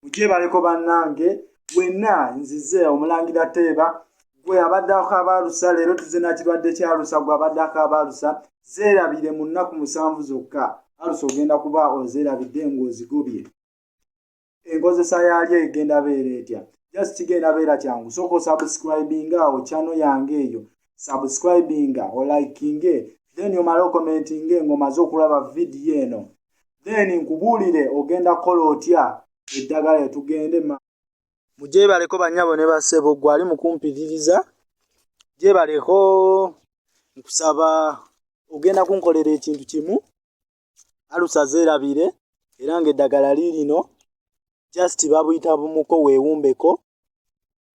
mugyebaleko bannange wenna nzize omulangira teeba gwe abadde akabaalusa leero tuze nakirwadde kyalusa gwe abadde akabaalusa zeerabire mu nnaku musanvu zokka alusa ogenda kuba ozeerabidde ng'ozigobye enkozesa yaalyo egenda beera etya just kigenda beera kyangu sooka osubscribinga awo kyano yange eyo subscribinga olikinge then omale okomentinge ng'omaze okulaba vidiyo eno then nkubuulire ogenda kukola otya eddagala etugende ma mugyebaleko banyabo ne basebo gwali mukumpiririza gyebaleko nkusaba ogenda kunkolera ekintu kimu alusa zeerabire era ng'eddagala liirino just babuyita bumuko weewumbeko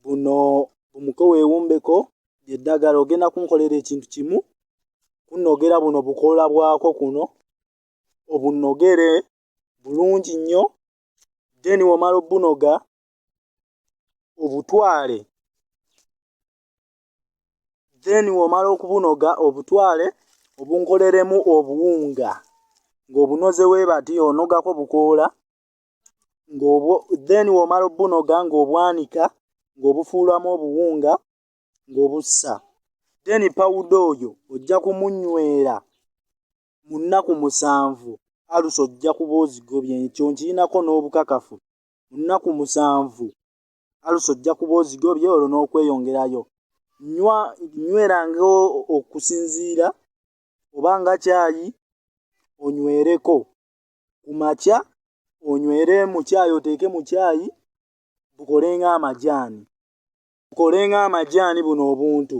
buno bumuko weewumbeko lyeddagala ogenda kunkolera ekintu kimu kunogera buno bukoola bwako kuno obunogere bulungi nnyo then womala obunoga obutwale then womala okubunoga obutwale obunkoleremu obuwunga ng'obunoze webati onogako bukoola ng'obwo then womala obunoga ng'obwanika ng'obufuulamu obuwunga ng'obussa then pawuda oyo ojja kumunywera mu nnaku musanvu alusa ojja kuba ozigobye ekyo nkirinako n'obukakafu mu nnaku musanvu alusa ojja kuba ozigobye olwo n'okweyongerayo nywa nyweranga okusinziira oba nga kyayi onywereko ku makya onywere mu kyayi oteeke mu kyayi bukolenga amajaani bukolenga amajaani buno obuntu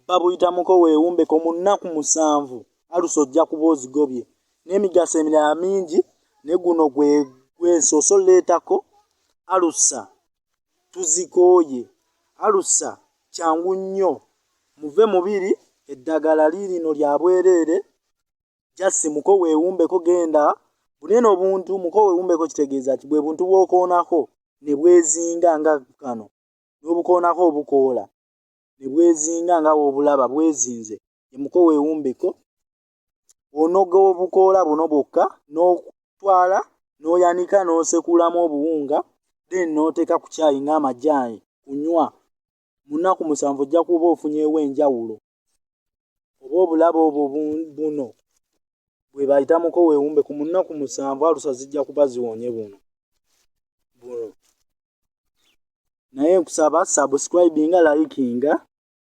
babuyitamuko weewumbeko mu nnaku musanvu alusa ojja kuba ozigobye n'emigaso emirala mingi ne guno gwe gwesoose oleetako alusa tuzikooye alusa kyangu nnyo muve mubiri eddagala liirino lya bwereere jasi muko weewumbeko genda bunene obuntu muko weewumbeko kitegeeza nti bwe buntu bw'okoonako ne bwezinga nga kano n'obukoonako obukoola ne bwezinga nga w'obulaba bwezinze yemuko weewumbeko onoga obukoola buno bwokka n'otwala n'oyanika n'osekulamu obuwunga then n'oteeka ku kyayi ng'amajaani kunywa mu nnaku musanvu ojja kuba ofunyeewo enjawulo oba obulaba obwo buno bwe bayita muko weewumbe ku mu nnaku musanvu alusa zijja kuba ziwonye buno buno naye nkusaba subscribinga likinga